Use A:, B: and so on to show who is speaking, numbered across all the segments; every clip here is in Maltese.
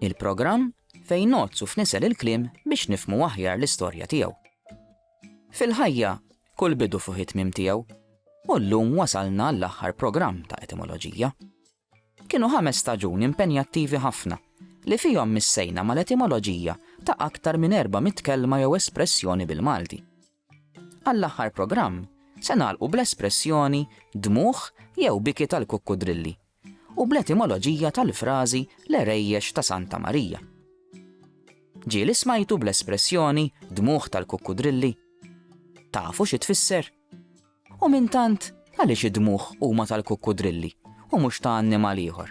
A: Il-programm fejn nozz u fnisel il-kliem biex nifmu aħjar l-istorja tiegħu. Fil-ħajja, kull bidu fuq it-tmim tiegħu, u llum wasalna l-aħħar programm ta' etimoloġija. Kienu ħames staġuni impenjattivi ħafna li fihom missejna mal-etimoloġija ta' aktar minn 400 kelma jew espressjoni bil-Malti. Għall-aħħar programm se nagħlqu bl-espressjoni dmugħ jew biki tal-kukkudrilli u bl-etimoloġija tal-frażi l-għerejjex ta' Santa Marija. Ġieli smajtu bl-espressjoni dmugħ tal-kukkudrilli? Tafu xi tfisser? U minn tant għaliex id-dmugħ huma tal-kukkudrilli u mhux ta' annimal ieħor?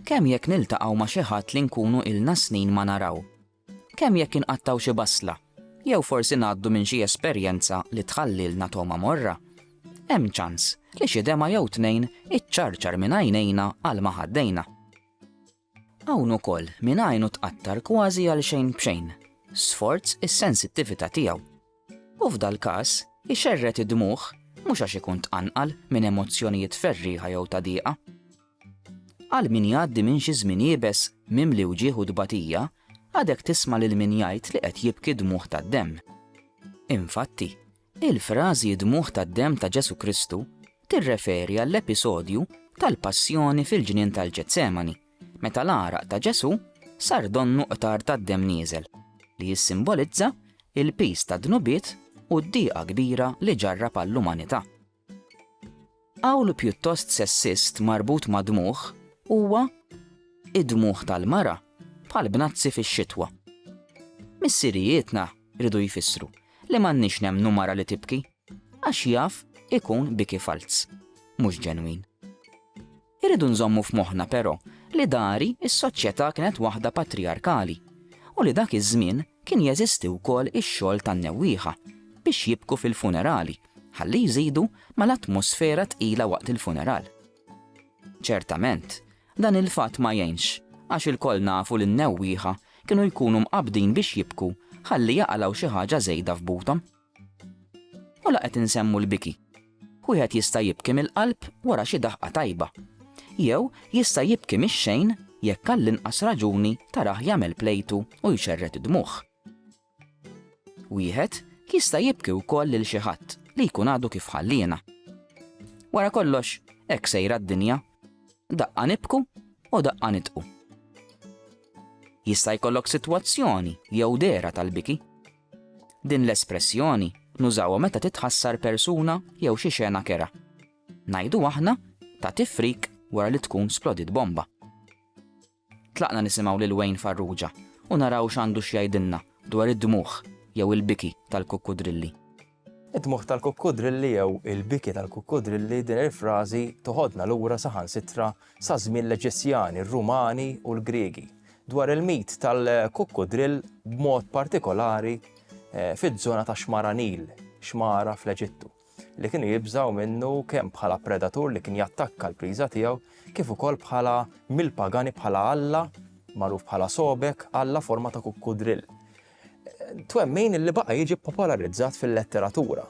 A: Kemm jekk niltaqgħu ma' xi ħadd li nkunu ilna snin ma naraw, Kemm jekk inqattgħu xi basla, jew forsi ngħaddu minn xi esperjenza li tħallilna togħma morra, hemm ċans li xi dema' jew tnejn iċċarċar minn għajnejna għal ma ħaddejna. Hawn ukoll min għajnu tqattar kważi għal xejn b'xejn, sforz is-sensittività tiegħu U f'dal-każ, ixerred id-dmugħ, mhux għax ikun tqanqal minn emozzjonijiet ferrieħa jew ta' diqa. Għal min jgħaddi minn xi żmien iebes mimli wġigħ u tbatija, għadek tisma' lil min jgħid li qed jibki dmugħ tad-demm. Infatti, il-frażi d-dmugħ tad-demm ta' Ġesù Kristu tirreferi għall-episodju tal-passjoni fil-ġnien tal-Ġetsemani, meta l-għaraq ta' Ġesù sar donnu qtar tad-demm nieżel, li jissimbolizza l-piż tad-dnubiet u d-diqa kbira li ġarrab għall-umanità. Qawl pjuttost sessist marbut ma' dmugħ huwa Id-dmugħ tal-mara bħal bnazzi fix-xitwa. Missirijietna riedu jfissru li m'għandniex nemmnu mara li tibki għax jaf ikun biki falz, mhux ġenwin. Irridu nżommu f'moħħna però li dari s-soċjetà kienet waħda patrijarkali u li dak iż-żmien kien jeżisti wkoll ix-xogħol tan-newwieħa biex jibku fil-funerali ħalli jżidu mal-atmosfera tqila waqt il-funeral. Ċertament, dan il-fatt ma jgħinx għax ilkoll nafu li n-newwieħa kienu jkunu mqabbdin biex jibku ħalli jaqalgħu xi ħaġa żejda f'buthom. U la qed insemmu l-biki. Wieħed jista' jibki mill-qalb wara xi daħqa tajba. Jew jista' jibki mix-xejn jekk għall-inqas raġuni tarah jagħmel plejtu u jxerred id-dmugħ. Wieħed jista' jibki wkoll lil xi ħadd li jkun għadu kif ħalliena. Wara kollox, hekk sejra d-dinja. Daqqa nibku u daqqa nitqu. Jista' jkollok sitwazzjoni jew dera tal-biki. Din l-espressjoni nużawha meta titħassar persuna jew xi xena kerha. Ngħidu aħna ta' tifrik wara li tkun splodiet bomba. Tlaqna nisimgħu lil Wayne Farrugia u naraw x'għandu x'jgħidilna dwar id-dmugħ jew il-biki tal-kukkudrilli. Id-dmugħ
B: tal-kukkudrilli jew il-biki tal-kukkudrilli, din il-frażi toħodna lura saħansitra sa żmien l-Eġizzjani, r-Rumani u l-Griegi dwar il-mit tal-kukkudrill b'mod partikolari eh, fiż-żona ta' xmara Nil, xmara fl-Eġittu li kienu jibżaw minnu kemm bħala predatur li kien jattakka l-priża tiegħu, kif ukoll bħala mill-pagani bħala alla, magħruf bħala sobek, alla forma ta' kukkudrill. twemmin li baqa' jiġi popolarizzat fil-letteratura.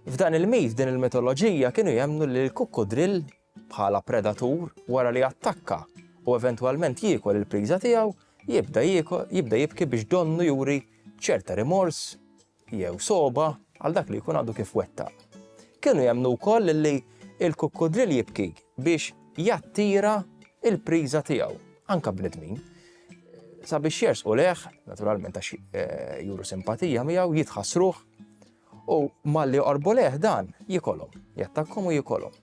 B: F'dan il-mit, din il-mitoloġija kienu jemnu li l-kukkudrill bħala predatur wara li attakka u eventwalment jiekol il-priża tiegħu jibda jibki biex donnu juri ċerta rimors jew sogħba għal dak li jkun għadu kif wettaq. Kienu jemmnu wkoll li il-kukkudril jibki biex jattira il-priża tiegħu, anka bnedmin, sabiex jersqu leħ, naturalment għax eh, juru simpatija miegħu, jitħassruh u malli qorbu leħ dan jikolhom, jattakkom u jikolhom.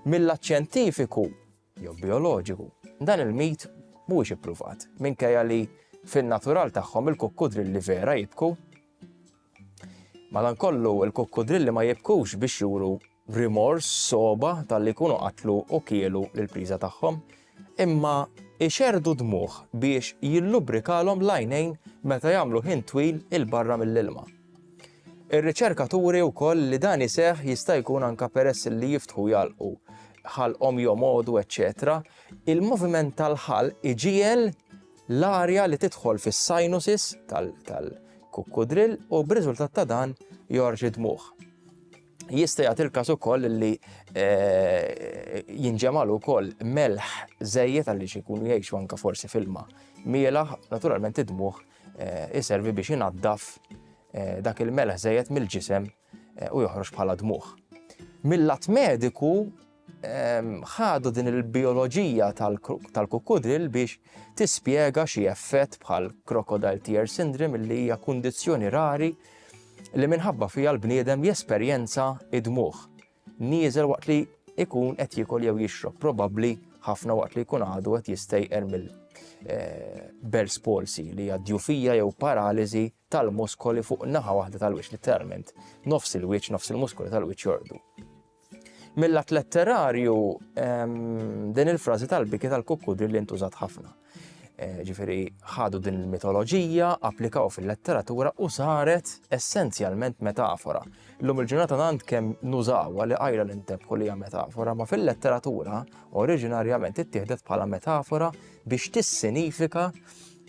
B: Mill-aċċentifiku jew bijoloġiku. Dan il-mit mhuwiex ippruvat, minkejja li fin-natural tagħhom il-kukkudrilli vera jibku. Madankollu, il-kukkudrilli ma jibkux biex juru rimors soba tal-li jkunu qatlu u kielu l-priża tagħhom, imma ixerdu dmuħ biex jillubrikalhom l-għajnejn meta jagħmlu ħin twil il-barra mill-ilma. Ir-riċerka turi wkoll li dan iseħħ jista' jkun anke peress li jiftħu jgħalqu ħalqhom jomgħodu eċċetera, il-moviment tal-ħalq iġiegħel l-arja li tidħol fis-sinuses tal-kukkudrill u b'riżultat ta' dan jorġi dmuħ. Jista' jagħti l-każ ukoll li eh, jinġemal ukoll melħ żejjed għaliex ikunu jgħixu anke forsi filma mielaħ, naturalment id-dmuħ Eh, iservi biex inaddaf eh, dak il-melaħ żejjed mill-ġisem eh, u joħroġ bħala dmuħ. Mill-lat mediku ehm, ħadu din il-bioloġija tal-kukudril biex tispjega xi effett bħal crocodile tear syndrome li hija kundizzjoni rari li minħabba fija l-bniedem jesperjenza id-dmuħ. nieżel waqt li ikun qed jiekol jew jixrob, probabbli ħafna waqt li jkun għadu qed jistejqer mill eh, Bell's palsy li hija djufija jew paraliżi tal-muskoli fuq naħa waħda tal-wiċċ literalment. Nofs il-wiċċ, nofs il-muskoli tal-wiċċ jordu. Mill-att letterarju ehm, din il-frażi tal-biki tal-kukkudri li ntużat ħafna. Eh, ġifiri ħadu din il-mitoloġija, applikaw fil-letteratura u saret essenzjalment metafora. L-lum il-ġurnata għand kem nużawa li għajra l-intebħu li metafora, ma fil-letteratura oriġinarjament ittieħdet bħala metafora biex tissinifika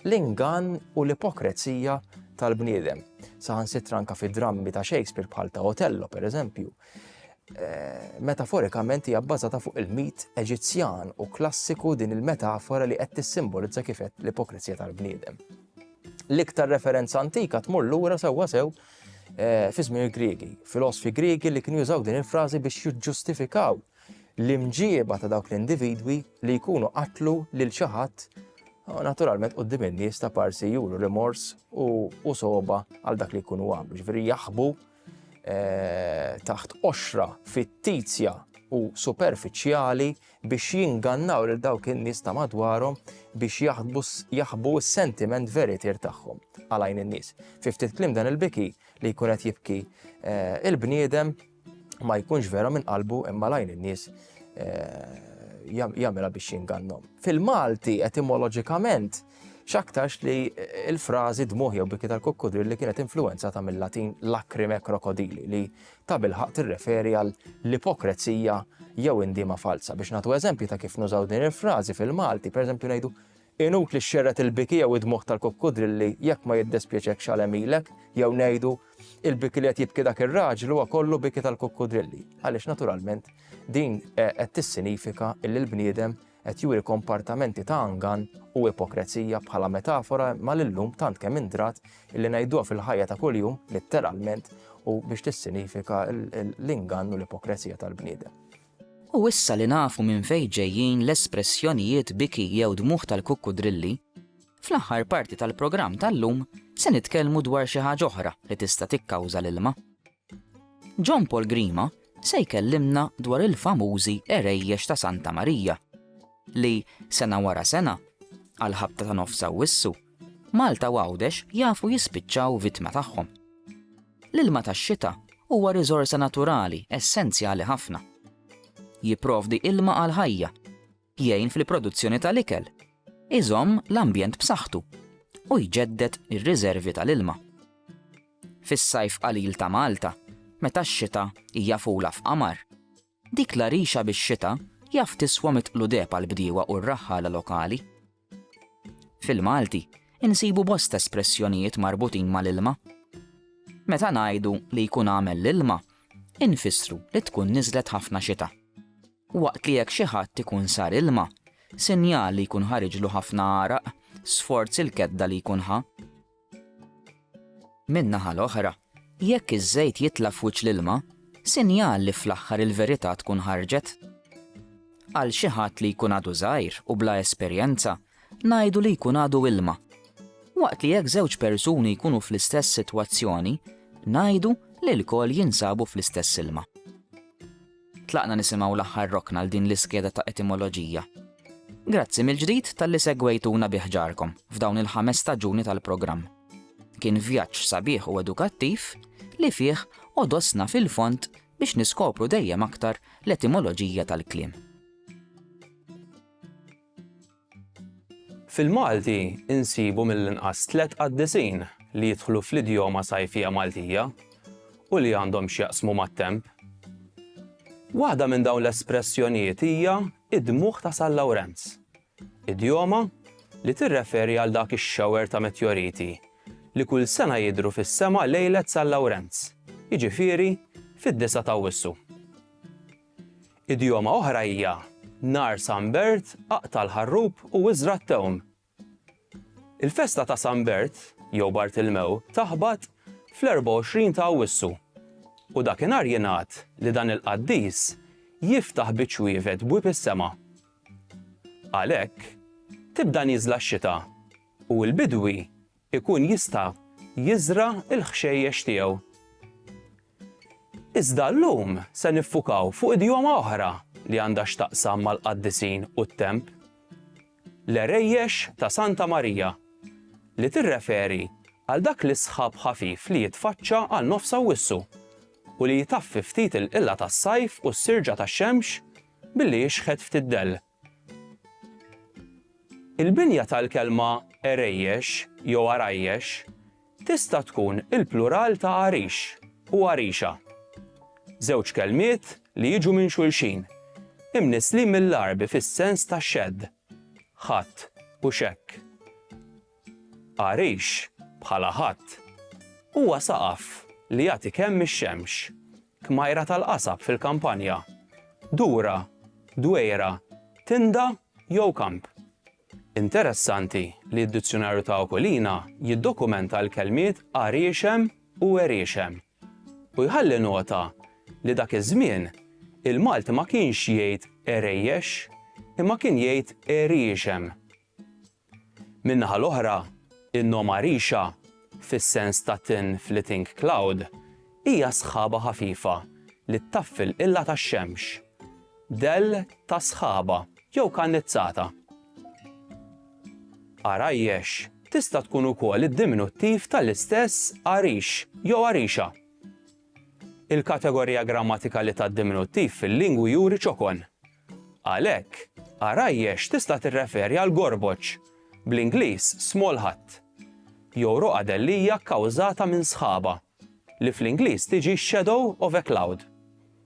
B: l-ingan u l-ipokrezija tal-bniedem. Saħan sitranka fi drammi ta' Shakespeare bħal ta' Otello, per eżempju, Eh, metaforikament hija bbażata fuq il-mit Eġizzjan u klassiku din il-metafora li qed tissimbolizza kif qed l-ipokrizija tal-bniedem. L-iktar referenza antika tmur lura sewwa sew eh, fi żmien il-Griegi, filosofi Griegi li kienu jużaw din il-frażi biex jiġġustifikaw l-imġieba ta' dawk l-individwi li jkunu qatlu lil xi ħadd naturalment qudiem in-nies ta' parsi juru rimors u soba għal dak li jkunu għamlu, ġifieri jaħbu Eh, taħt qoxra fittizja u superfiċjali biex jingannaw lil dawk in-nies ta' madwarhom biex jaħbu s-sentiment veritir tagħhom għalajn in-nies. Fi ftit klim dan il-biki li jkun qed jibki eh, il-bniedem ma jkunx vera minn qalbu imma lajn in-nies eh, jagħmilha biex jingannhom. Fil-Malti etimoloġikament X'aktarx li l-frażi dmuħ jew biki tal-kukkudrilli kienet influwenzata mill-Latin lacrime crocodili li ta' bilħaq tirreferi għal l-ipokrezija jew indiema falza. Biex nagħtu eżempju ta' kif nużaw din il-frażi fil-Malti, pereżempju ngħidu inut li xxerret il-biki jew id-dmuħ tal-kukkudrilli jekk ma jiddispjaċek xalemilek jew ngħidu il-biki li qed jibki dak ir-raġel huwa kollu biki tal-kukkudrilli. Għaliex naturalment din eh, qed tissinifika li l-bniedem qed juri kompartamenti ta' angan u ipokrezija bħala metafora ma l-lum tant kemm indrat illi ngħiduha fil-ħajja ta' kuljum litteralment u biex tissinifika l-ingann u l-ipokrezija tal-bniedem. U issa
A: li nafu minn fejn ġejjin l-espressjonijiet biki jew dmugħ tal-kukkudrilli, fl-aħħar parti tal-programm tal-lum se nitkellmu dwar xi ħaġa oħra li tista' tikkawża l-ilma. John Paul Grima se jkellimna dwar il-famużi għerejjex ta' Santa Marija li, sena wara sena, għall-ħabta ta' Nofs Awwissu, Malta u Għawdex jafu jispiċċaw vittma tagħhom. L-ilma tax-xita huwa riżorsa naturali essenzjali ħafna. Jipprovdi ilma għall-ħajja. jgħin fil-produzzjoni tal-ikel, iżomm l-ambjent b'saħħtu u jġedded ir-riżervi tal-ilma. Fis-sajf qalil ta' Malta, meta x-xita hija fula f'qamar, dik l-għarixa bix-xita jaf tiswa mitt qludeb għall-bdiewa u r-raħħala lokali. Fil-Malti, insibu bosta espressjonijiet marbutin mal-ilma. Meta ngħidu li jkun għamel l-ilma, infissru li tkun niżlet ħafna xita. Waqt li jekk xi ħadd ikun sar ilma, sinjal li jkun ħariġlu ħafna għaraq, sforz il-kedda li jkun ħa. Min-naħa l-oħra, jekk iż-żejt jitla' f'wiċċ l-ilma, sinjal li fl-aħħar il-verità tkun ħarġet. Għal xi ħadd li jkun għadu żgħir u bla esperjenza, ngħidu li jkun għadu ilma. Waqt li jekk żewġ persuni jkunu fl-istess sitwazzjoni, ngħidu li lkoll jinsabu fl-istess ilma. Tlaqna nisimgħu l-aħħar rokna għal din l-iskeda ta' etimoloġija. Grazzi mill-ġdid talli segwejtuna bi ħġarkom f'dawn il-ħames staġuni tal-programm. Kien vjaġġ sabiħ u edukattiv li fih odosna fil-fond biex niskopru dejjem aktar l-etimoloġija tal-kliem.
C: Fil-Malti nsibu mill-inqas tliet qaddisin li jidħlu fl-idjoma sajfija Maltija u li għandhom x'jaqsmu mat-temp. Waħda minn dawn l-espressjonijiet hija d-dmugħ ta' San Lawrenz, idjoma li tirreferi għal dak ix-shower ta' metjoriti li kull sena jidhru fis-sema lejlet San Lawrenz, jiġifieri fid-disgħa t'Awwissu. Idjoma oħra hija, Nhar San Bert aqta' l-ħarrub u iżra' t-tewm. Il-festa ta' San Bert, jew Bartilmew, taħbat fl-24 ta' Awwissu, u dakinhar jingħad li dan il-qaddis jiftaħ bi ċwievet bwieb is-sema. Għalhekk, tibda nieżla x-xita u l-bidwi ikun jista' jiżra' l-ħxejjex tiegħu. Iżda llum se niffukaw fuq idjoma oħra li għandha x'taqsam mal-qaddisin u t-temp, l-għerejjex ta' Santa Marija, li tirreferi għal dak l-isħab ħafif li jitfaċċa għal nofs Awwissu u li jtaffi ftit il-qilla tas-sajf u s-sirġa tax-xemx billi jixħet ftit dell. Il-binja tal-kelma għerejjex jew għarajjex tista' tkun il-plural ta' għarix u għarixa, żewġ kelmiet li jiġu minn xulxin, imnisslin mill-Għarbi fis-sens ta' xedd, ħatt u xekk. Għarix, bħala ħatt, huwa saqaf li jagħti kemm ix-xemx Kmajra tal-qasab fil-kampanja, dura, dwejra, tinda jew kamp. Interessanti li d-Dizzjunarju ta' Okolina jiddokumenta l-kelmiet għariexem u għeriexem u jħalli nota li dak iż-żmien il-Malti ma kienx jgħid għerejjex imma kien jgħid għeriexem. Min-naħa l-oħra, in-noma rixa, fis-sens ta' thin flitting cloud, hija sħaba ħafifa li ttaffi l-qilla tax-xemx, dell ta' sħaba jew kannizzata. Għarajjex tista' tkun ukoll id-diminuttiv tal-istess għarix jew għarixa. Il-kategorija grammatikali tad-diminuttiv fil-lingwi juri ċokon. Għalhekk, għarajjex tista' tirreferi għal gorboċ, bl-Ingliż small hut, jew roqadel li hija kkawżata minn sħaba, li fl-Ingliż tiġi shadow of a cloud.